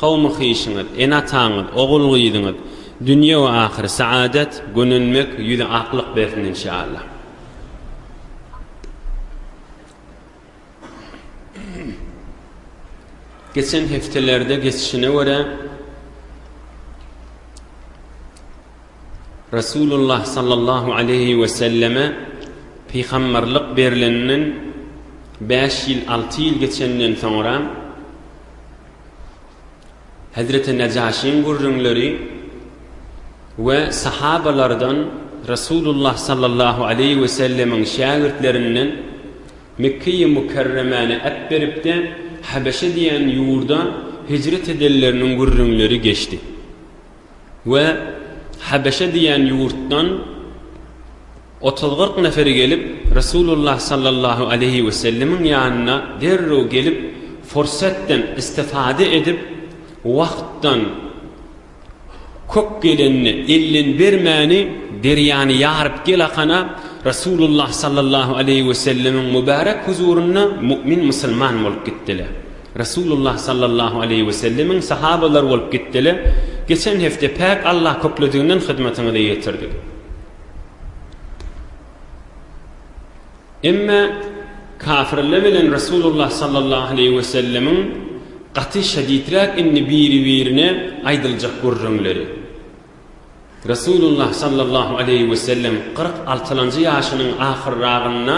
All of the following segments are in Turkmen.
Kowmy-hyşyňyz, ene-ataňyz, ogul-gyzyňyz dünýe we ahyr saadet, gönenmek, ýüzi aklyk bersin inşaallah. Geçen hepdelerde geçişine görä Resulullah sallallahu aleyhi we selleme pygamberlik berleninden 5 ýyl 6 ýyl geçenden soňra Hezreti Nejaşyň gürrüňleri we sahabalardan Resulullah sallallahu aleýhi we sellemiň şägirtlerinden Mekkeýi Mukerremäni äpberipde Habeşe diýen ýurda hijret edenleriniň gürrüňleri geçdi. we Habeşe diýen ýurtdan otuz-kyrk nefer gelip, Resulullah sallallahu aleýhi wesellemiň ýanyna derrew gelip, fursatdan istifada edip, wagtdan köp gelenini, elden bermäni, derýany ýaryp gel akana, Resulullah sallallahu aleýhi wesellemiň mübärek huzurynda mu'min musulman bolup gitdiler. Resulullah sallallahu aleýhi we sellemiň sahabalary bolup gitdile geçen hepde päk Allah köklediginden hyzmatyňyza ýetirdik. Emme kafirle bilen Resulullah sallallahu aleýhi we sellemiň gaty şedidräk indi biri birine aýdyljak gürrüňleri. Resulullah sallallahu aleýhi we sellem kyrk altylanjy ýaşynyň ahyrragynda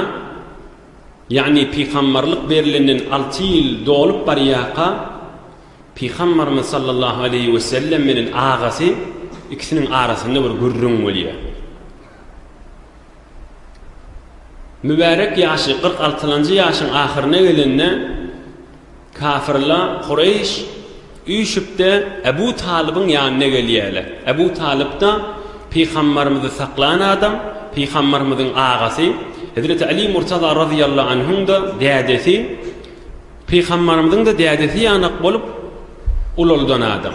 Ýagny pygamberlik berilenden alty ýyl dolup barýarka, pygamberimiz sallallahu aleýhi wesellem bilen agasy ikisiniň arasynda bir gürrüň bolýar. Mübärek ýaşy kyrk altylanjy ýaşyň ahyryna gelende, Kafirler, Kureýş, üýşüp-de Ebu Talybyň ýanyna gelýärler. Ebu Talyp-da pygamberimizi saklan adam, pygamberimiziň agasy, Hezreti Aly Murtaza razyýallahu anhuň-da dädesi, pygamberimiziň-de dädesi ýanak bolup ulaldan adam.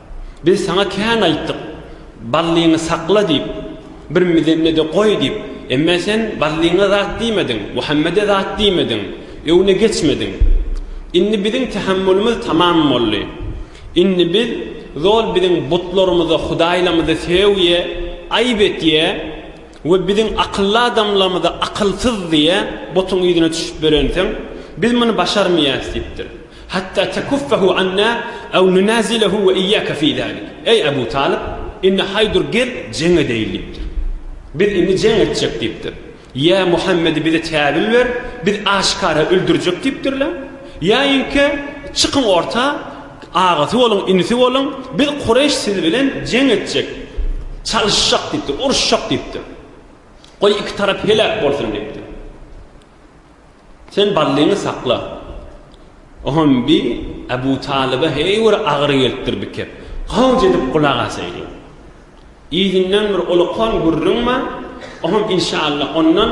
Biz saňa kän aýtdyk, Ballyňy sakla diýip, bir mizemde-de goý diýip, emmä sen Ballyňa zat diýmediň, Muhammede zat diýmediň, öňüne geçmediň. Indi biziň tähämmülimiz tamam boldy. Indi biz zol biziň butlarymyza, hudaýlarymyza sögýe, aýyp etýe we biziň akylly adamlarymyza akylsyz diýýe, butuň yzyna düşüp berensiň, biz muny başarmaýarys diýipdir. Hatta tekuffahu anna aw nunazilahu we iyyake fi zalik. Eý Abu Talyp, indi haýdur gel jeň edeýin diýipdir. Biz indi jeň etjek diýipdir. Ýa Muhammedi bize täwil ber, biz aşkara öldürjek diýipdirler. Ýaýinkä çykyň orta, agasy boluň, inisi boluň, biz Kureýş siz bilen jeň etjek, çalyşjak diýipdir, uruşjak diýipdir. Goý iki tarap heläk bolsun diýipdir. Sen Ballyňy sakla. Oňam bi Abu Talyba heý bir agyry gelipdir bikep. Howj edip gulak asaýyň. Yzyndan bir ulukan gürrüň bar, oňam inşallah ondan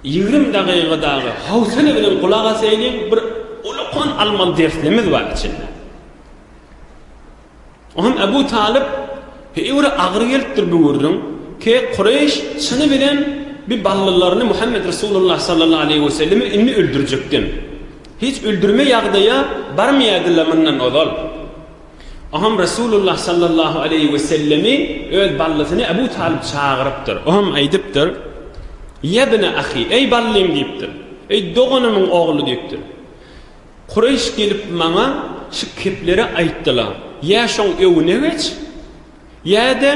ýigrimi dagyga dagy howsala bilen gulak asaýyň, bir ulukan almaly derslerimiz bar içinde. Onam Ebu Talyp, Heýwre agyr gelipdir bu gürrüň, ke Kureýş çyny bilen bi ballylaryny Muhammet Resulullah sallallahu aleýhi we sellemi indi öldürjekden, hiç öldürme ýagdaýa barmaýadyla mundan ozal. Onam Resulullah sallallahu aleýhi we sellemi öz ballysyny Ebu Talyp çagyrypdyr. Onam aýdypdyr, Ýebne ahi, eý ballym diýipdir. Eý doganymyň ogly diýipdir. Kureýş gelip maňa şu kepleri aýtdylar, Ýa şoň öňüne geç, ýa-da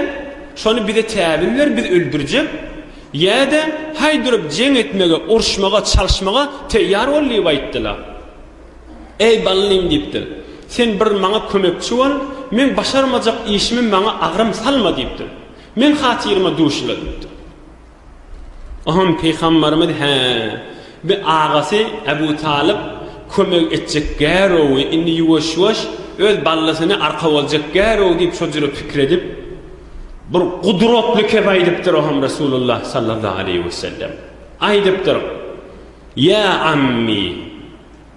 şony bize täbin ber, biz öldürjek, ýa-da haý durup jeň etmege, urşmaga, çalşmaga teýýar bol diýip aýtdylar. Eý Ballim diýipdir, sen bir maňa kömekçi bol, meň başarmajak işimi maňa agram salma diýipdir. Meň hatyryma duşla diýipdir. Oňa pygamberimiz He, bi agasy Ebu Talyp kömek etjek gärowy, indi ýuwaş-ýuwaş öz ballasyny arka boljak gärow diýip şo jüre pikir edip, bir gudratly kep aýdypdyr oňa Resulullah sallallahu aleýhi wesellem. Aýdypdyr, Ýa ammi!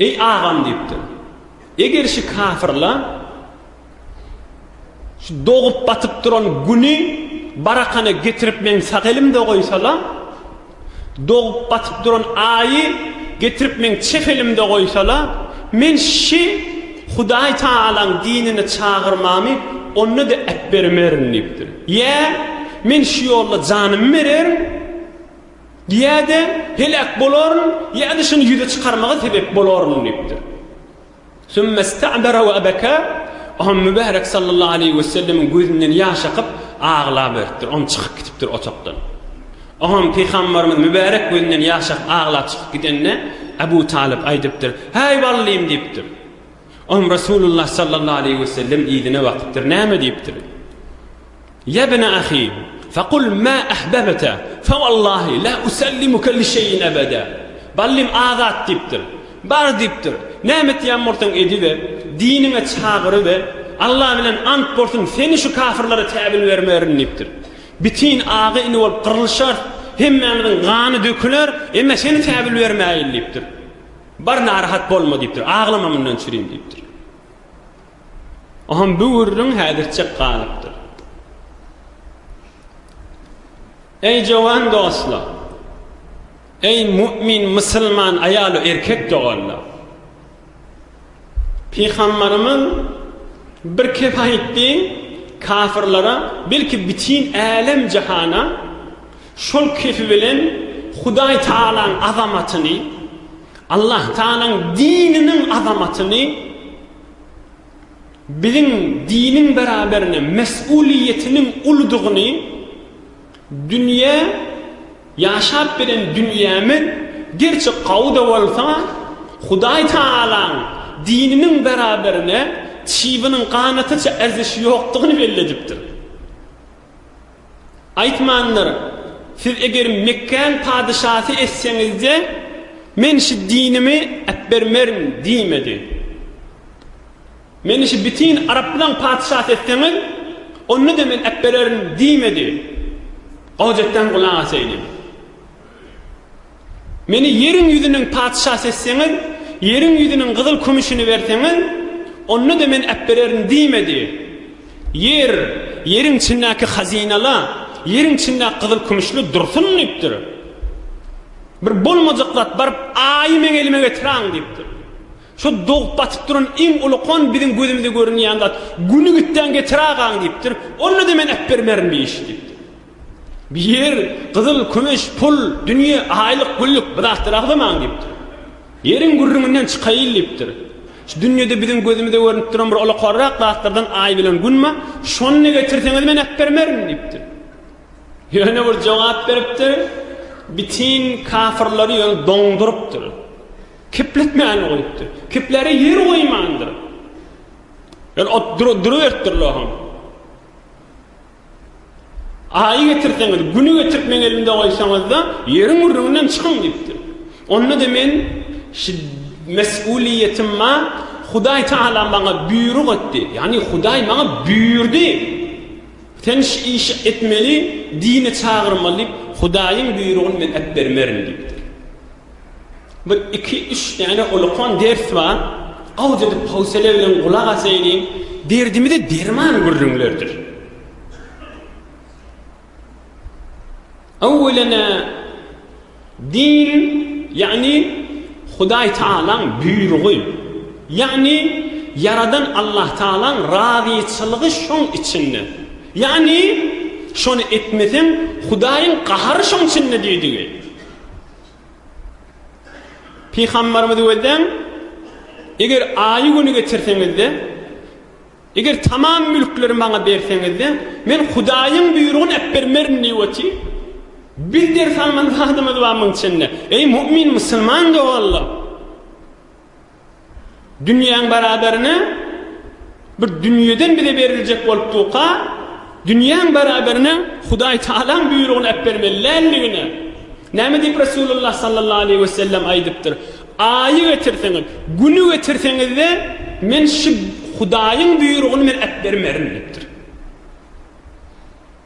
Eý, agam diýipdir. Eger şu kafirler şu dogup batyp duran güni barakana getirip meň sag elimde goýsalar, dogup batyp duran aýy getirip meň çep elimde goýsalar, men şi Hudaý Tagalaň dinine çagyrmamy onda-da ätbermerin diýipdir. Ýa, men şu ýolda janymy bererin. Ýa-da heläk bolaryn, ýa-da şuny ýüze çykarmaga sebäp bolaryn diýipdir. Sümme sta'dara we abaka, Ohan Mübärek sallallahu aleýhi wesellemiň gözünden ýaş akyp, aglaberipdir. Oňa çykyp gitipdir otagdan. Oňa Pygamberimiz Mübärek gözünden ýaş akyp aglap çykyp gidende, Abu Talyp aýdypdyr, Häý ballym diýipdir. Oňa Resulullah sallallahu aleýhi wesellem yzyna bakypdyr, Näme diýipdir. Ýa bne ahi, fekul ma ahbebte, fewallahi la usellimuke li şeýin ebede. Ballym azat diýipdir. Bar diýipdir. Näme etýän bolsaň ediber, diniňe çagyryber, Alla bilen ant bolsun seni şu kafyrlara täbin bermerin diýipdir. Bitin aga-ini bolup gyrlyşarys, hemmämiziň gany döküler, emme seni täbin bermäýin diýipdir. Bar narahat bolma diýipdir, aglama mundan çürin diýipdir. Oňam bu gürrüň häzirçek galypdyr. Eý jowan dostlar! Eý mu'min musulman aýalu erkek doganlar! Pygambarymyz bir kep aýtdy, kafirlara, belki bütin älem jahana şol kepi bilen Hudaý Tagalaň azamatyny, Allah Tagalaň dininiň azamatyny Biziň diniň beraberine mes'uliýetiniň uludygyny, dünýä, ýaşap bilen dünýämiz gerçi gawy-da bolsa, Hudaý Tagalaň dininiň beraberine çybynyň ganatyça erzeşi ýokdugyny belli edipdir. Aýtmandyr, Siz eger Mekgäň patyşasy etseňizde, men şu dinimi äpbermerin diýmedi. Meni şu bütin araplaň patyşasy etseňiz, onda-da men äpbererin diýmedi. Gojadan gulak asaýdy. Meni ýeriň ýüzüniň patyşasy etseňiz, ýeriň ýüzüniň gyzyl-kümüşini berseňiz, onda-da men äpbererin diýmedi. Ýer, ýeriň içindäki hazynala, ýeriň içindäki gyzyl-kümüşli dursun diýipdir. Bir bolmajak zat baryp, Aýy meň elime getiräň diýipdir. Şu dogup batyp duran iň ulkan biziň gözümize görünýän zat, Güni gitdäň getirägaň diýipdir. Onda-da men äpbermerin diýişdi. Bir ýer gyzyl, kümüş, pul, dünýe, aýlyk, güllük bir zatlar agzamaň diýipdir. Ýeriň gürrüňinden çykaýyl diýipdir. Şu dünýede biziň gözümize görnüp duran bir olakarrak zatlardan aý bilen gün bar, şony getirseňiz men äpbermerin diýipdir. Ýöne bir jogap beripdir, bitin kafyrlary ýöne doňdurypdyr. Kepletmän goýupdyr. Kepläre ýer goýmandyr. Ýöne ot duruberipdir loham. Aýy getirseňiz, Güni getirip meň elimde goýsaňyz-da, ýeriň gürrüňinden çykyň diýipdir. Onda-da men, Mes-uliýetim bar, Hudaý Tagala maňa buýruk etdi, ýagny Hudaý maňa buýurdy, sen şu işi etmeli, dine çagyrmaly diýip, Hudaýyň buýrugyny men äpbermerin diýipdir. Bir iki üç däne olakan ders bar, gawy edip howsele bilen gulak asaýylyň, derdimize derman gürrüňlerdir. Öwwelena din ýagny Hudaý Tagalaň buýrugy, ýagny ýaradan Allah Tagalaň razyçylygy şoň içinde. Ýagny şony etmeseň Hudaýyň gahary şoň içinde diýdigi. Pygamberimizi gözleň, eger aýy güni getirseňizde, eger tamam mülkleri maňa berseňizde, men Hudaýyň buýrugyny äpbermerin diýip oty. Biz ders alman zadymyz bar muň içinde. Eý mu'min, musulman doganlar! Dünýäň baraberine bir dünýeden bize beriljek bolup durka, dünýäň baraberine Hudaý Tagalaň buýrugyny äbermeli däldigine, näme diýip Resulullah sallallahu aleýhi we sellem aýdypdyr, Aýy getirseňiz, Güni getirseňiz-de, men şu Hudaýyň buýrugyny men äbermerin diýipdir.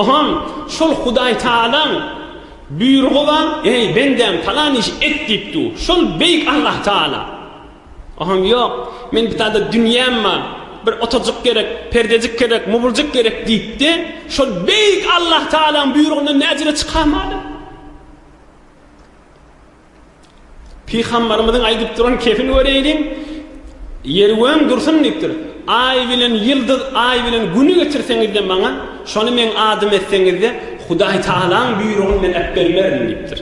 Oňa şol Hudaýtagalaň buýrugy bar, Eý, bendäm, palan işi et diýip dur. Şol Beýik Allahtagala oňa ýok, men bu zada dünýäm bar, bir otagajyk gerek, perdejik gerek, mubuljyk gerek diýipdi. Şol Beýik Allahtagalaň buýrugyndan näjere çykarmady. Pygambarymyzyň aýdyp duran kepil göreýliň, Ýer weň dursun diýipdir. Aý bilen ýyldyz, Aý bilen Güni getirseňiz-de maňa, şony meň adym etseňiz-de, Hudaý Tagalaň buýrugyny men äpbermerin diýipdir.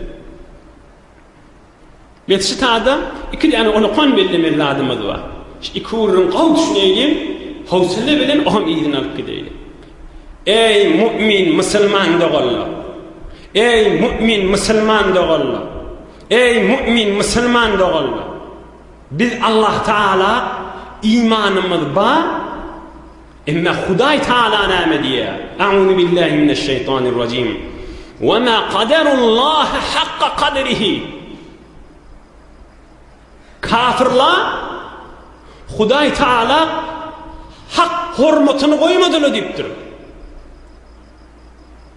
Mesjit-ada iki däne on okan bellemeli zadymyz bar. Şu iki gürrüň gowy düşüneýliň, howsala bilen oňam yzyny alyp gideýliň. Eý, mu'min, musulman doganlar! Eý, mu'min musulman doganlar! Eý, mu'min musulman doganlar! Biz Allah Tagala imanymyz bar, emma Hudaý Tagala näme diýýär? A'uzubillahi mineşşeýtanirrajim. Wa ma qadarullah hakka qadrihi. Kafirler Hudaý Tagala hak hormatyny goýmadylar diýipdir.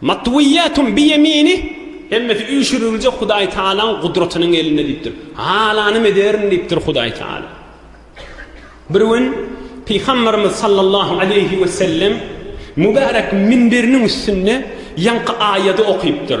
Matwiyyatum bi yeminih, Hemmesi üýşüriljek Hudaý Tagalaň gudratynyň elinde diýipdir. Halanymy ederin diýipdir Hudaý Tagala. Bir gün Pygamberimiz sallallahu aleýhi wesellem mübärek minberiniň üstünde ýaňky aýady okypdyr.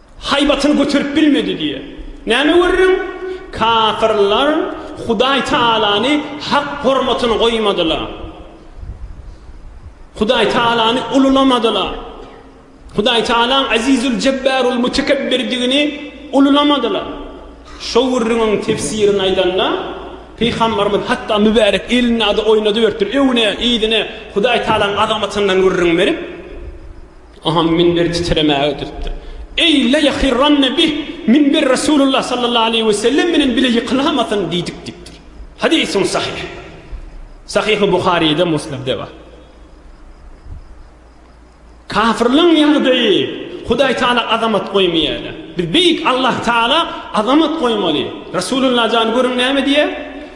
Haýbatyny göterip bilmedi diýýär. Näme görüň, kafirler Hudaý Tagalany hak hormatyny goýmadylar. Hudaý Tagalany ululamadylar. Hudaý Tagalaň Azizül-Jebbarul-Mutekebbirdigini ululamadylar. Şo gürrüňiň tefsirini aýdanda, Pygamberimiz hatda mübärek elini-de oýnadyberipdir, öňüne, yzyna Hudaý Tagalaň azamatyndan gürrüň berip, Oňa minber titremäge tutdy. Eý, la ýahirranne bih, minber Resulullah sallallahu aleýhi we sellem bilen bile ýykylamasyn diýdik diýipdir. Hadysyň sahyh. Sahyhy Buharyda, Muslimde bar. Kafirliň ýagdaýy, Hudaý Taala azamat goýmaýar. Biz beýik Allah Taala azamat goýmaly. Resulullah jan görüň näme diýýär?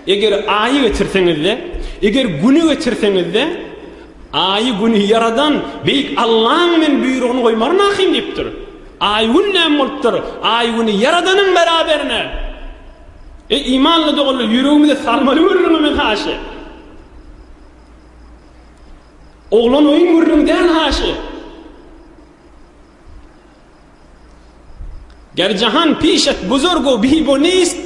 Eger aýy getirseňiz-de, eger güni getirseňiz-de, Aýy güni ýaradan beýik Allaň men buýrugyny goýmaryn ahym diýipdir. Aý gün näme bolupdyr? Aý güni ýaradanyň beraberine. Eý imanly doganlar ýüregimize salmaly gürrüňi men haşy. Oglan oýun gürrüňi däl haşy. Ger jahan piş et buzurgu bibo nist,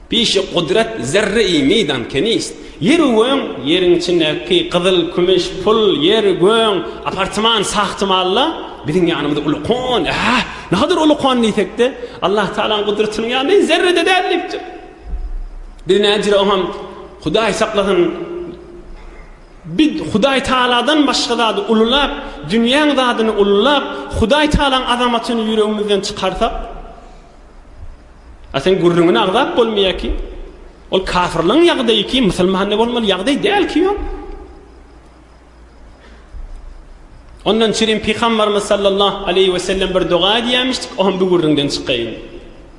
Pişi gudrat zerre-i meydan ke nist. Ýer-u göň, ýeriň içindäki gyzyl, kümüş, pul, ýer, göň, apartman, sahty malla biziň ýanymyzda uly kon, äh, nagadyr uly kon diýsek-de, Allahutalaň gudratynyň ýanyna zerre-de däl diýipdir. Biz näjire oňam, Hudaý saklasyn, Biz Hudaýtagaladan başga zady ululap, dünýäň zadyny ululap, Hudaýtagalaň azamatyny ýüregimizden çykarsak, a sen gürrüňini agzap bolmaýar ki, ol kafirleň ýagdaýy ki, musulmanda bolmaly ýagdaý däl ki ol. Ondan çirin Pygambarymyz sallallahu aleýhi we sellem bir doga edýämişdik, o hem bu gürrüňden çykaýyn.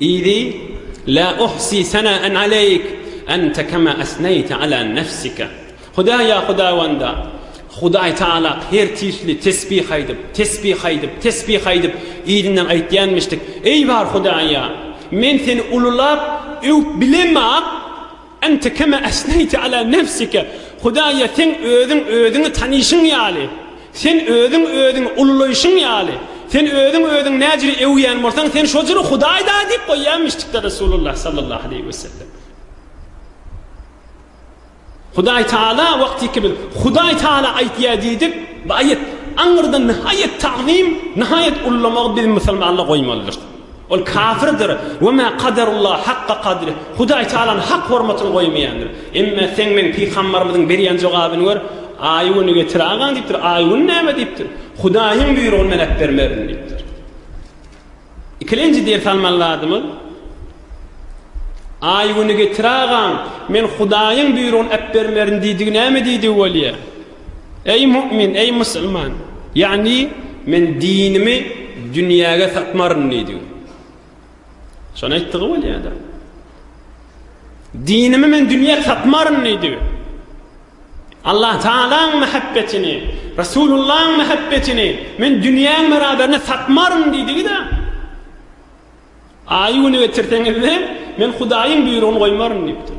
Yzy, La uhsi senaen aleýk, ente kema esneýte ala nefsike. Hudaýa Hudawanda, Hudaý Tagalak her tisli tesbih aýdyp, tesbih aýdyp, tesbih aýdyp, yzyndan aýtýanmyşdyk, Eý bar Hudaýa, men seni ululap, öwüp bilemok. Ente kema esneýte ala nefsike, Hudaýa seň özüň özüňi tanyşyň ýaly, sen özüň özüňi ullulaýşyň ýaly, sen özüň özüňi näjüri öwýän bolsaň, sen şo jüri Hudaýda diýip goýýanmyşdykda Resulullah sallallahu aleýhi we sellem. Hudaý Taala wagtyky biz Hudaý Taala aýtýar diýdik, bu aýat aňyrdan nihaýat tagzym, nihaýat ullamagy biz musulmanda goýmalydyrys. Ol kafirdir. We mä kaderullaha hakka kadrih. Hudaý Tagalanyň hak hormatyny goýmaýandyr. Emme seň meň pygambarymyzyň berýän jogabyny gör, Aýuny getir agaň diýipdir. Aýun näme diýipdir? Hudaýyň buýrugyny men äpbermerin diýipdir. Ikilenji ders almaly zadymyz, Aýuny getir agaň, men Hudaýyň buýrugyny äpbermerin diýdigi näme diýdigi bolýar? Eý mu'min, eý musulman! Ýagny, men dinimi dünýäge satmaryn diýdi. Şony aýtdygy bolýar-da. Dinimi men dünýä satmaryn diýdi. Allah Taalaň mähebbetini, Resulullahyň mähebbetini men dünýäň beraberine satmaryn diýdigi-de. Aýy güni getirseňiz-de, men Hudaýyň buýrugyny goýmaryn diýipdir.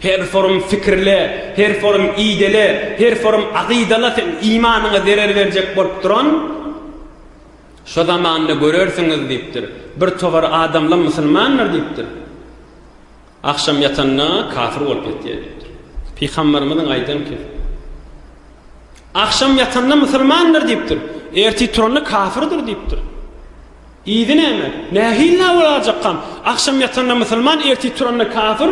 Her forum fikirle, her forum idele, her forum agydala seň imanyňa zerer berjek bolup duran şo zamanda görersiňiz diýipdir. Bir togar adamlar musulmandyr diýipdir. Agşam ýatanda kafir bolup ýatýar diýipdir. Pygamberimiziň aýdan ki, Agşam ýatanda musulmandyr diýipdir. Ertir turanda kafirdir diýipdir. Yzy näme? Nähili nawa lajakam? Agşam ýatanda musulman, ertir turanda kafir,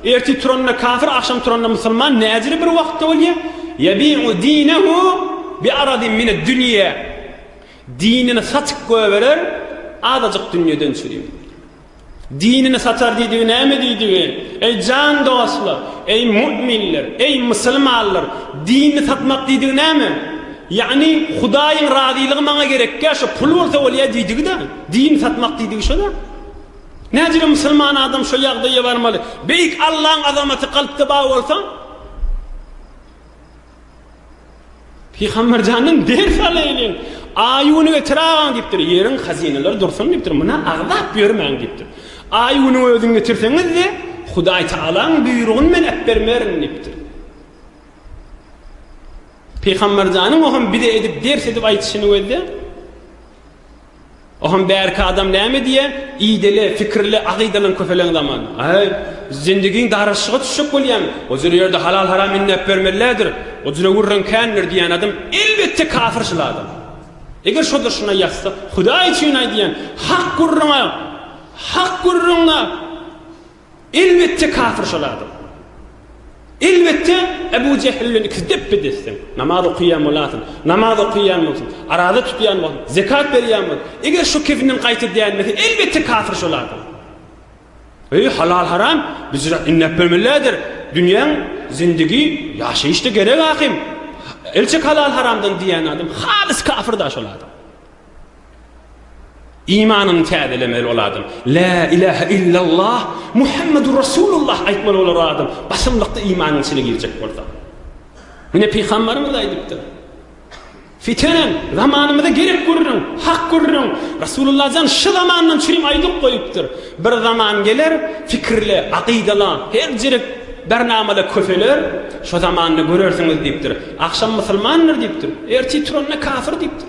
ertir turanda kafir, agşam turanda musulman näjili bir wagtda bolýa? Ýabi'u dinehu bi aradin mined dünýe. Dinini satyp goýberer, azajyk dünýeden çüri. Dinini satar diýdigi näme diýdigi? Eý jan dostlar, eý mu'minler, eý mysylmanlar, dinini satmak diýdigi näme? Ýagny Hudaýyň razylygy maňa gerekýä şo pul bolsa bolýa diýdigi-dä. Dinini satmak diýdigi şo-da. Nädire mysylman adam şo ýagdaýa barmaly. Beýik Allaň azamaty kalpda bar bolsa. Pygamber janyň ders alaýyň. Aýuny getir agaň diýipdir. Ýeriň hazynalary dursun diýipdir. Muna agzap ýörmäň diýipdir. Aýuny özüň getirseňiz-de, Hudaý Tagalaň buýrugyny men äpbermerin diýipdir. Pygamber janyň o hem bize edip ders edip aýdyşyny gözde. Oham bärki adam näme diýä, ideli, fikirli, akydalan köpeleň zaman. Aý, zindigiň daraşyga düşjek bolýaň, ojele ýerde halal-haram inläp bermellädir, ojele gürrüň kändir diýän adam elbetde kafir şul adam. Eger şoda şuna ýazsak, Hudaý üçin aý diýen, hak gürrüňe, hak gürrüňe. Elbetde kafir şol adam. Elbetde Ebu Jehil bilen ikisi depbe-desdiň. Namaz okaýan bolasyň, namaz okaýan bolsun, araza tutýan bolsun, zekat berýän bolsun, eger şu kefinden gaýta dänmese, elbetde kafir şol adam. Öýi halal-haram büjrat inläp bermelidir. Dünýäň zindigi ýaşaýyşda gerek ahym. Elçik halal-haramdan diýýän adam halys kafir-da şol adam. Imanyny täzelemeli ol adam. Lä ilähe illallah Muhammedur Rasulullah aýtmaly bolar o adam, basymlykda imanyň içine girjek bolsa. Muny pygambarymyz aýdypdyr. Fitenen zamanymyza gerek gürrüň, hak gürrüň. Rasulullah jan şu zamandan çürim aýdyp goýupdyr. Bir zaman geler, fikirle, akydala, her jirik bernamala köseler, şo zamanda görersiňiz diýipdir. Agşam musulmandyr diýipdir, ertir turanda kafir diýipdir.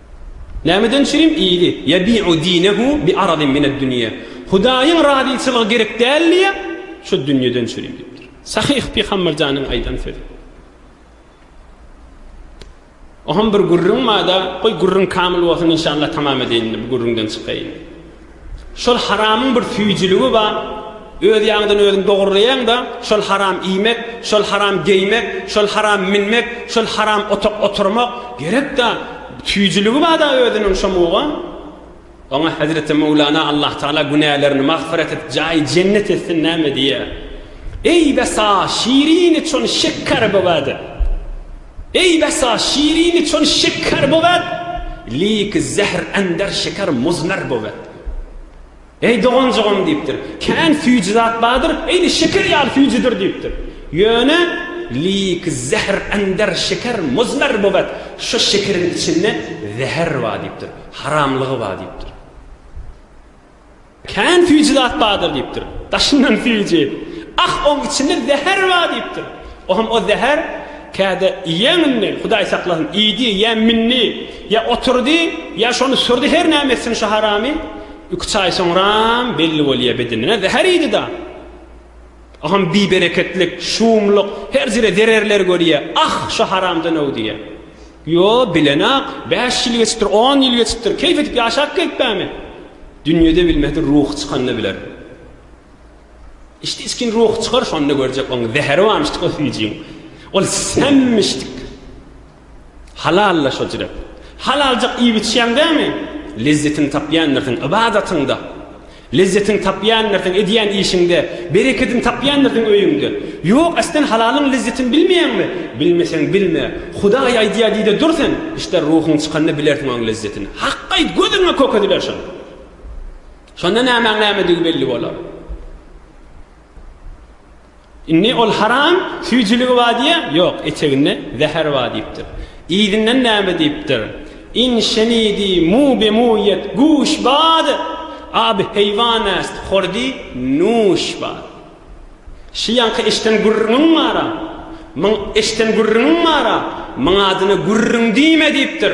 Nämeden çirim ýyly, ýebi'u dinehu bi aradin mined dünýe, Hudaýyň razyçylygy gerek däl diýýä, şu dünýeden çirim diýipdir. Sahyh Pygamberjanyň aýdan sözi. Oham bir gürrüň bada, goý gürrüň kamyl bolsun inşallah tamam edeýin indi bu gürrüňden çykaýyn. Şol haramyň bir süýjüligi bar, öz ýaňydan özüň dogurlaýaň-da, şol haram iýmek, şol haram geýmek, şol haram minmek, şol haram otak oturmak, gerek-dä, süýjüligi bar-da özüniň şo muga. Oňa Hezreti Möwlana Allahtagala günälerini magfyrat edip, jaýy jennet etsin näme diýýär. Eý, bes-a, şirini çon şeker bogady! Eý besa şirini çün şeker bowet, Liki zähr änder şeker muzmer bowet. Eý doganjygym diýipdir, Kän süýji zat bardyr, Eýni şeker ýaly süýjidir diýipdir. Ýöne Liki zähr änder şeker muzmer bowet, Şu şekeriň içinde zäher bar diýipdir, Haramlygy bar diýipdir. Kän süýji zat bardyr diýipdir. Daşyndan süýji. Ah, oň içinde zäher bar diýipdir. O hem o zäher käde iýeň indi, Hudaý saklasyn, iýdi ýa mindi, ýa oturdy, ýa şony sürdi her näme etsin şu haramy, iki-üç aý soňram belli bolýa bedenine zäher iýdi-da. O hem bibereketlik, şumluk, her ýere zererler görýä. Ah, şu haramdan öw diýýä. Ýo, bilenok. Bäş ýyl geçipdir, on ýyl geçipdir. Keýp edip ýaşap gelipbämi? Dünýede bilmese, ruhy çykanda biler. Içdi-içgin ruhy çykar, şonda görjek. Onuň zäheri barmyşdyk o süýjiň. Ol sämmişdik. Halal-la şo jirek. Halaljak iýip-içýäň dämi? Lezzetini tapýandyr seň ybadatyňda. Lezzetiň tapýandyrsyn edýän işiňde, berekedin tapýandyrsyn öýüňde. Ýok, äsden halalyň lezzetin bilmeýäňmi? Bilmeseň bilme. Hudaý aýdýar diýde dur sen. Işdä ruhuň çykanda bilersiň oň lezzetini. Haky aýt, gözüňe kök ediler şonda. Şonda nämäň nämedigi belli bolar. Indi ol haram süýjüligi bar diýýä? Ýok, eteginde zäher bar diýipdir. Yzyndan näme diýipdir? In şenidi mu bemuyet guş bad, abi heýwan äst hordi nuş bad. Şi ýaňky eşden gürrüňiň bar-a, myň eşden gürrüňiň bar-a, myň adyna gürrüň diýme diýipdir.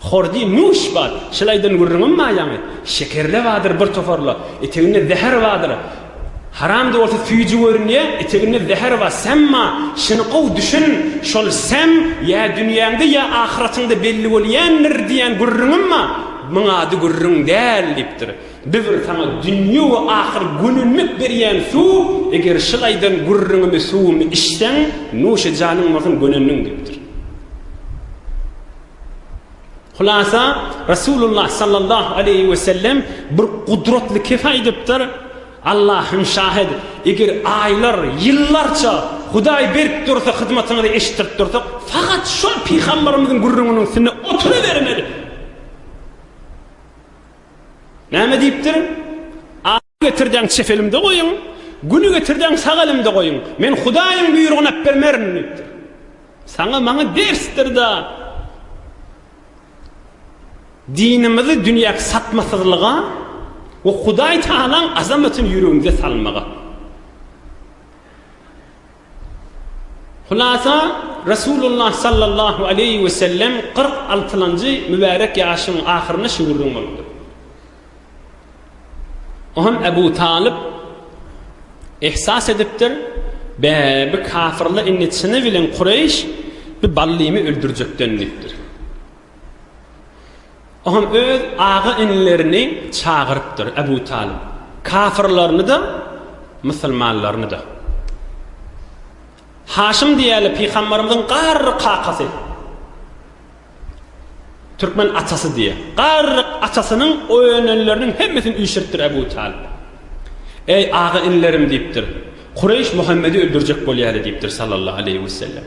Hordy, Nuş, bar, şylaýdan gürrüňem bar ýaňy, şekerle bardyr bir toparla, eteginde zäher bardyr. Haram-da bolsa süýji görünýä, eteginde zäher bar, säm bar, şuny gowy düşün, şol säm ýa dünýäňde, ýa ahyratyňda belli bolýändir diýen gürrüňem bar, muň ady gürrüň däl, diýipdir. Biz saňa dünýe we ahyr gönenmek berýän suw, eger şylaýdan gürrüňimi, suwumy içseň, nuş, janyň bolsun, gönendiň, diýipdir. Hulasa, Resulullah sallallahu aleýhi we sellem bir gudratly kese aýdypdyr, Allahym şahyt, eger aýlar, ýyllarça Hudaý berip dursa, hyzmatyňyzy eşitdirip dursa, fakat şol pygambarymyzyň gürrüňiniň üstünde oturybermeli. Näme diýipdir? Getirjäň çep elimde goýuň, güli getirjäň sag elimde goýuň, men Hudaýyň buýrugyny äpbermerin diýipdir. Saňa maňa dersdir-de, dinimizi dünýäki satmasyzlyga we Hudaýtagalaň azamatyny ýüregimize salmaga. Hulasa, Resulullah sallallahu aleýhi we sellem kyrk altylanjy mübärek ýaşynyň ahyrynda şu gürrüň bolupdyr. O hem Ebu Talyp ihsas edipdir, Be, bi kafirler indi çyny bilen Kureýş bi Ballymy öldürjekden diýipdir. Oňam öz aga-inilerini çagyrypdyr, Ebu Talyp, kafyrlaryny-da, musulmanlaryny-da. Haşym diýýärler, pygamberimiziň garry kakasy, türkmen atasy diýýär. Garry atasynyň oýananlarynyň hemmesini üýşüripdir Ebu Talyp. Eý, aga-inilerim diýipdir, Kureýş Muhammedi öldürjek bolýar diýipdir sallallahu aleýhi wesellem.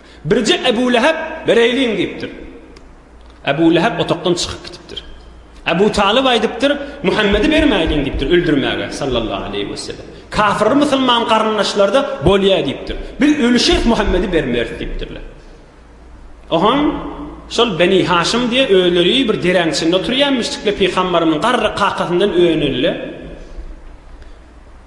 Birje Ebu Lehep bereýliň diýipdir. Ebu Lehep otagdan çykyp gitipdir. Ebu Talyp aýdypdyr, Muhammedi bermäýliň diýipdir öldürmäge, sallallahu aleýhi we sellem. Kafir musulman garyndaşlarda bolýa diýipdir. Biz ölüşeris Muhammedi bermeris diýipdirler. Ohan şol Beni Haşym diýe özleri bir deräň içinde oturýan müşrikler pygambarymyň garry kakasyndan öýenildi.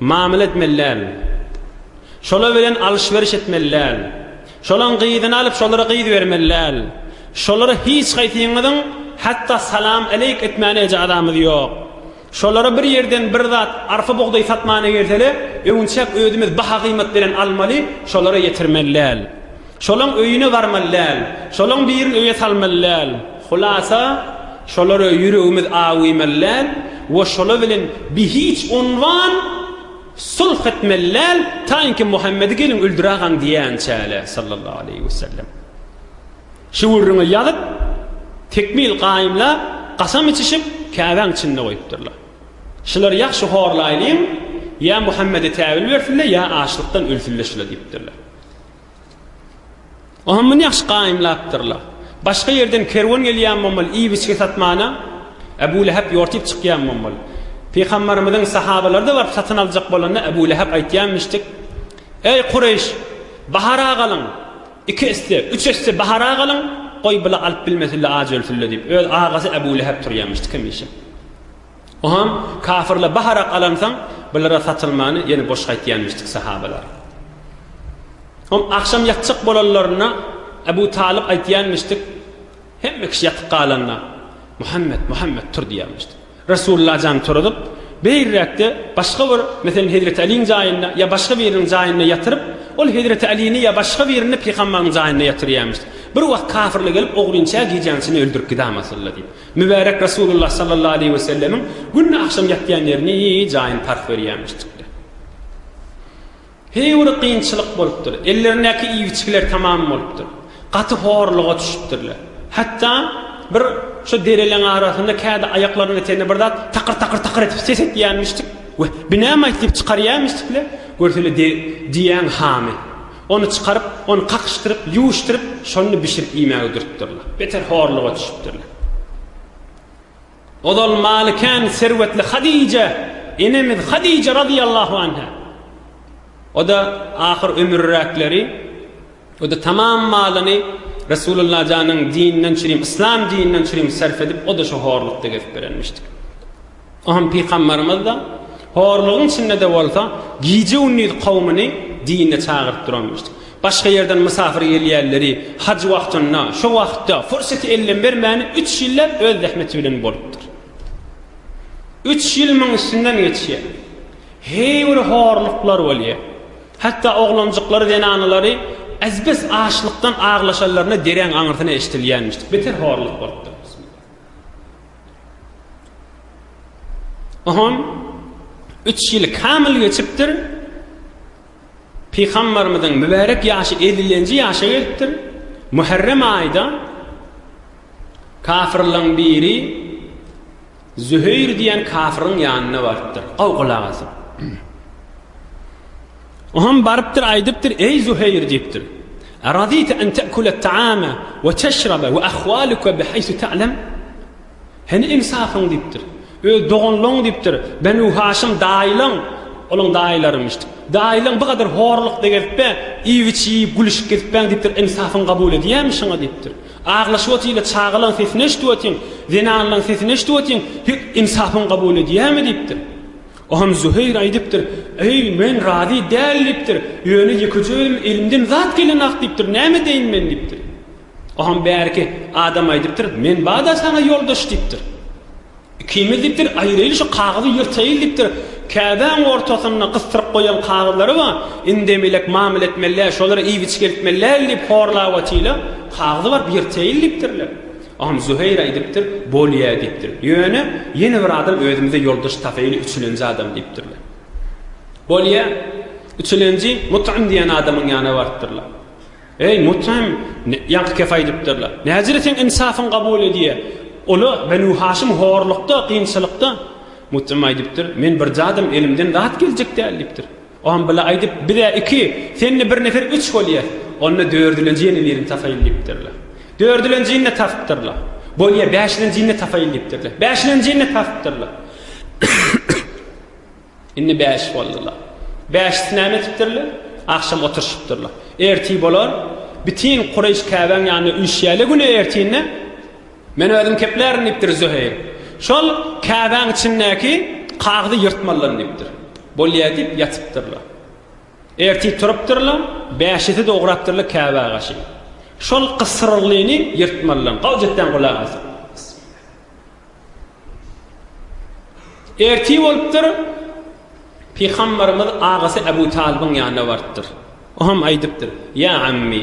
Mamyla etmeli däl. Şolar bilen alyş-beriş etmeli däl. Şolaň gyzyny alyp şolara gyz bermeli däl. Şolara hiç haýsyňyzyň hatda salam aleýk etmäne ejazamyz ýok. Şolara bir ýerden bir zat arpa bugdaý satmana gelsele öwünçäk özümiz baha-gyýmat beren almaly, şolara ýetirmeli däl. Şolaň öýüne barmaly däl. Şolaň birin öýe salmaly däl. Hulasa, şolara ýüregimiz awymaly däl we şolar bilen bihiç unwan sulh etmeli däl, taýynki Muhammedi gelin öldüragaň diýänçäle, sallallahu aleýhi we sellem. Şüwürine ýazyp, tekmil gaýymlap, gasam içişip, Käbäň içinde goýupdyrlar. Şulary ýagşy horlaýlyň, ýa Muhammede täwil bersinler, ýa açlykdan ölsünler şular diýipdirler. Oňa muny ýagşy gaýymlapdyrlar. Başga ýerden kerwen gelýän bolmaly, iýip-içgi satmana Äbu Lähep ýortyp çykýan bolmaly. Pygambarymyzyň sahabalary-da baryp satyn aljak bolanda Äbu Lähep aýtýanmyşdyk, Eý, Kureýş, bahara galyň, iki esse, üç esse bahara galyň, goý, bile alyp bilmesinler, aç ölsünler diýip, öz agasy Äbu Lähep turýanmyşdyk hemişe. Oňam kafyrlar baharak alansoň, bulara satylmany ýene boş gaýtýanmyşdyk sahabalar. Oňam agşam ýatjak bolanlarynda Ebu Talyp aýtýanmyşdyk, hemme kişi ýatyp galanda, Muhammet, Muhammet tur diýýänmişdi. Resulullah jan turadyp, beýräkde başga bir, meselem, Hezreti Aliň jaýynda ýa başga biriniň jaýynda ýatyryp, ol Hezreti Alini ýa başga birini pygambaryň jaýynda ýatyrýanmyşdy. Bir wagt kafyrlar gelip, Oglyňçä gijäň içinde öldürip gidäm asylda diýip. Mübärek Resulullah sallallahu aleýhi we sellemiň günde agşam ýatýan ýerini jaýyny tarh berýärmişdikler. Heýwiri kynçylyk bolupdyr. Ellerindäki iýgiçgiler tamam bolupdyr. Gaty horluga düşüpdirler. Hatda bir şo dereleň arasynda kädi aýaklarynyň eteginde bir zat takyr-takyr takyr edip ses etýärmişdik. Weh, binäm aýt diýip çykarýarmyşdikler. Görseler diýýäň hamy. Ony çykaryp, ony kakyşdyryp, ýuwuşdyryp, şony bişirip iýmäge dürtdürler. Beter horluga düşüpdirler. Ozal maly kän serwetli Hadije enemiz Hadije razyýallahu anha. O-da ahyr ömürräkleri, o-da tamam malyny Resulullah janyň dininden çürim, yslam dininden çürim sarp edip, o-da şo horlukda gezip berenmişdi. Oňa pygambarymyz-da, horlugyň içinde-de bolsa, gije-gündiz kowumyny dine çagyryp duranmyşdy. Başga ýerden mysafir gelýänleri haj wagtynda, şo wagtda, fursaty elden bermäni üç ýylläp öz zähmeti bilen bolupdyr. Üç ýyl muň üstünden geçýär. Heý bir horluklar bolýar. Hatda oglanjyklary, zenanalary az-bes açlykdan aglaşanlaryna dereň aňyrsyna eşidilýänmişdi. Beter horluk bolupdyr. Oňam üç ýyl kamyl geçipdir. Pygamberimiziň mübärek ýaşy 50-nji ýaşa gelipdir. Muharrem aýda kafirlaryň biri Züheýr diýen kafiryň ýanyna barypdyr. Gaw gulak asyp. Oňam barypdyr, aýdypdyr, Eý, Zuheýr! diýipdir. Aradita an ta'kula at-ta'ama we teşraba we ahwaluka bihaýsu ta'lam? Hany ynsafyň? diýipdir. Öz doganlaň, diýipdir, Benu Haşym daýylaň, olaň daýylary imiş, daýylaň bu gadar horlukda gezip-ä, iýip-içip, iýip, gülüşip gezipbäň, diýipdir, ynsafyň kabul edýärmi şoňa? diýipdir. Aglaşyp otyl-a, çagalaň sesini eşidip otyň, zenanlaň sesini eşidip otyň, hek, ynsafyň kabul edýärmi? diýipdir. Onam Züheýr aýdypdyr, Eý, men razy däl diýipdir, ýöne ýekejeýelim elimden zat gelenok diýipdir, näme edeýin men diýipdir. Onam bärki adam aýdypdyr, Men bada saňa ýoldaş diýipdir. Ikimiz diýipdir, aýraýyl şu kagyzy ýyrtaýyl diýipdir, käbäň ortasynda gysdyryp goýan kagyzlary bar, indem elek mamla etmeli däl, şolara iýip-içgeltmeli däl diýip horlap otyla, kagyzy baryp ýyrtaýyl diýipdirler. Agam Züheýr aýdypdyr, bolýa diýipdir. Ýöne ýene bir adam özümize ýoldaş tapaýyly üçülenji adam diýipdirler. Bolýa, üçülenji Mut'ym diýen adamyň ýanyna barypdyrlar. Eý, Mut'ym, ýaňky kep aýdypdyrlar. Näjire seň ynsafyň kabul edýä? Ol-a Benu Haşym horlukda, kynçylykda. Mut'ym aýdypdyr, Men bir zadym elimden zat geljek däl diýipdir. Ogam bile aýdyp, biz-ä iki, sen-de bir nefer üç bolýas. Onda dördülenji ýene birini tapaýyn diýipdirler. Dördülenjini de tapypdyrlar. Bolýa, bäşilenjini-de tapaýyn diýipdirler. Bäşilenjini de tapypdyrlar. Indi bäş boldular. Bäşisi näme etipdirler? Agşam oturyşypdyrlar. Ertir bolar, bütin Kureýş Käbäň ýanyna üýşýärler güne ertirine. Men özüm keplärin, diýipdir Zöheýr. Şol käbäň içindäki kagyzy ýyrtmalydam, diýipdir. Bolýa, diýip ýatypdyrlar. Ertir turupdyrlar, bäşisi de ugrapdyrlar käbä gaşy. Şol gysyryllyny ýyrtmalydam, gowjetden gulak as. Ertir bolupdyr, Pygamberimiz agasy Abu Talybyň ýanyna barypdyr. O hem aýdypdyr, Ýa ammi!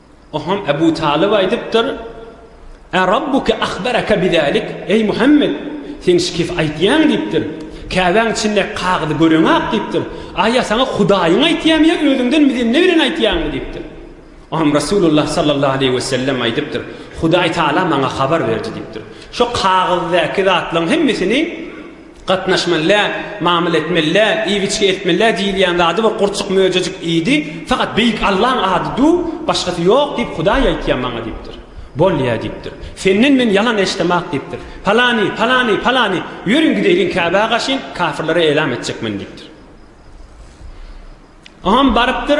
Oňa Ebu Talyp aýdypdyr, Ä Rabbuke ahbereke bizalik, eý Muhammet, sen şikes aýtýaň diýipdir. Käbäň içindäki kagyzy göreňak diýipdir. A ýa saňa Hudaýyň aýtýamy ýa özüňden mizenne bilen aýtýaňmy diýipdir. Oňa Resulullah sallallahu aleýhi wesellem aýdypdyr, Hudaý Taala maňa habar berdi diýipdir. Şo kagyzdaky zatlaryň hemmesini Gatnaşmaly-ä, mamyl etmeli-ä, iýip-içgi etmeli-ä diýilýän zady bir gurçuk möjejik iýdi, fakat Beýik Allaň ady-du, başgasy ýok diýip Hudaý aýtýa maňa diýipdir. Bolýa diýipdir. Senden men ýalan eşdemok diýipdir. Palany, palany, palany, ýörüň gideýliň Käbä gaşyn, kafirlere elam etjek men diýipdir. Oňam barypdyr,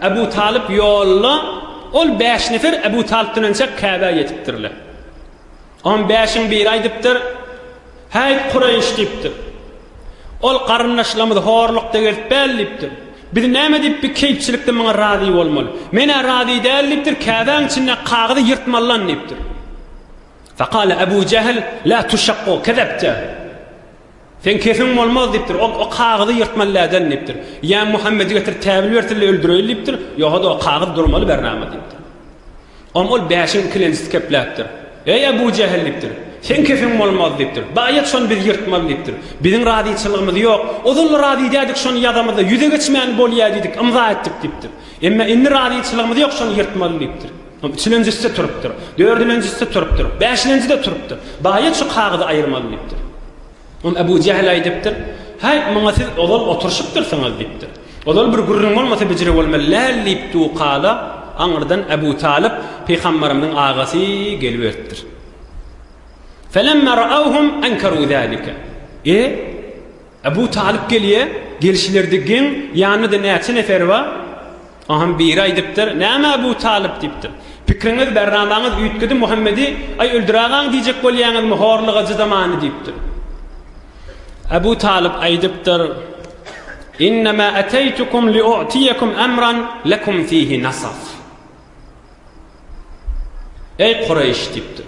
Ebu Talyp ýolda, ol bäş nefer Ebu Talypdan ençäk Käbä ýetipdirler. On bäşiň biri aýdypdyr, Häýt, Kureýş! diýipdir. Ol, Garyndaşlarymyzy horlukda gezip bäl diýipdir. Biz näme diýip bi keýpçilikde muňa razy bolmaly? Men-ä razy däl diýipdir, käbäň içindäki kagyzy ýyrtmaly lan diýipdir. Fekale Ebu Jähl, Lä tüşekku kezepte! Seň kesiň bolmaz diýipdir. Ol o kagyzy ýyrtmaly läden diýipdir. Ýa Muhammedi getir täbil bersin-le öldüreýin diýipdir, ýoga-da o kagyz durmaly bernama diýipdir. Oňa ol bäşiň ikilenjisi kepläpdir. Eý Ebu Jähil diýipdir. Seň kesiň bolmaz diýipdir. Baý et şony biz ýyrtmaly diýipdir. Biziň razyçylygymyz ýok. Ozal-da razy idädik şony ýazamyzda ýüze geçmäni bolýa diýdik, ymza etdik diýipdir. Emma indi razyçylygymyz ýok şony ýyrtmaly diýipdir. Üçülenjisi-de turupdyr. Dördülenjisi-de turupdyr. Bäşilenji-de turupdyr. Baýat şu kagyzy aýyrmaly diýipdir. Onda Ebu Jähil aýdypdyr, Häý, muňa siz ozal oturyşypdyrsyňyz diýipdir. Ozal bir gürrüň bolmasa bijire bolmaly läl diýip du kala, aňyrdan Ebu Talyp pygambarymyzyň agasy geliberipdir. Felemma ra'awhum ankaru zalika. E, Ebu Talyp gelýär. Gelşilerde geň, ýanynda-da näçe nefer bar. Onham biri aýdypdyr, Näme Ebu Talyp? diýipdir. Pikriňiz, bärnamaňyz üýtgedi, Muhammedi, aý, öldüragaň diýjek bolýaňyzmy, horluk ajy zamany, diýipdir. Ebu Talyp aýdypdyr, Innemä äteýtukum liu'tiýekum emran lekum fihi nasaf. Eý, Kureýş, diýipdir.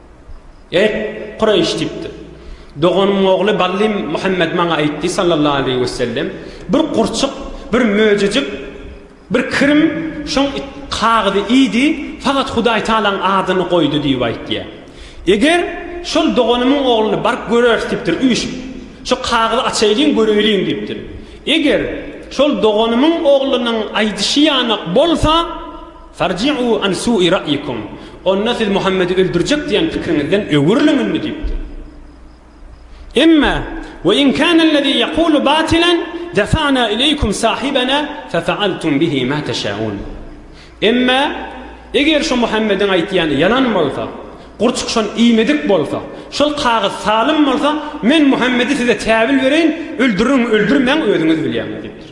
Eý, Kureýş! diýipdir. Doganymyň ogly Bally Muhammet maňa aýtdy, sallallahu aleýhi we sellem, bir gurçuk, bir möjejik, bir kirim şoň kagyzy iýdi, fakat Hudaý Tagalaň adyny goýdy diýip aýtýar. Eger şol doganymyň ogluny baryp göreris diýipdir, üýşüp. Şu kagyzy açaýlyň, göreýliň diýipdir. Eger şol doganymyň oglunyň aýdyşy ýanak bolsa, Farji'u an su'i ra'ikum, Onda siz Muhammedi öldürjek diýen pikriňizden öwrüliň indi diýipdir. Emma, we in kana allazi yaqulu batilan, dafa'na ileýkum sahibana fe fa'altum bihi ma teşaun. Emma, eger şu Muhammediň aýtýany ýalan bolsa, gurçuk şon iýmedik bolsa, şol kagyz salym bolsa, men Muhammedi size täwil bereýin, öldüriň, öldürmäň, özüňiz bilýäňiz diýipdir.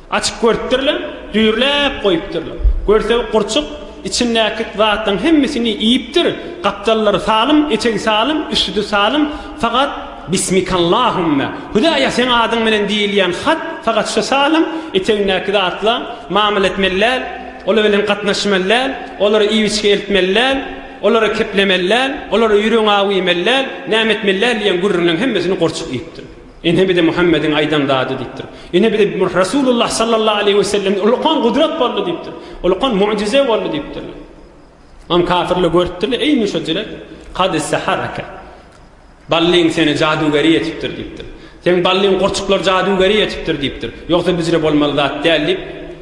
Açyp görüpdirler, düýrläp goýupdyrlar. Görse, gurçuk içindäki zatlaryň hemmesini iýipdir, gapdallary salym, etegi salym, üstüdi salym, fakat Bismikallahümme, Hudaýa seň adyň bilen diýilýän hat fakat şu salym, etegindäki zatla mamyla etmeli däl, olar bilen gatnaşmaly däl, olara iýip-içgi eltmeli däl, olara keplemeli däl, olara ýüregiňi aw iýmeli däl, näme etmeli däl diýen gürrüňleriň hemmesini gurçuk iýipdir. Ine bize Muhammediň aýdan zady diýipdir. Ine bize Resulullah sallallahu aleýhi we sellem ulkan gudrat boldy diýipdir. Ulkan mucize boldy diýipdirler. Mam kafirle görüpdirler, eý müşejile, kad saharaka. Ballyň seni jadugeri etipdir diýipdir. Sen ballyň gurçuklar jadugeri etipdir diýipdir. Ýogsa bizre bolmaly zat däl diýip,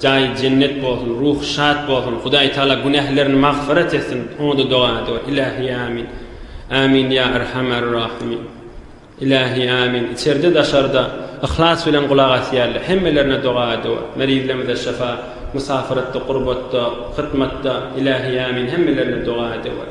Jaýy jennet bolsun, ruhy şat bolsun, Hudaý Taala günählerini magfyrat etsin, oňada doga edýär, Ilahi Amin, Amin ýa Erhamer Rahimin, Ilahi Amin, içerde daşarda yhlas bilen gulak asýarlar, hemmelerine doga edýär, merizlerimize şyfa, musafiratda, gurbatda, hytmatda, Ilahi Amin, hemmelerine doga edýär.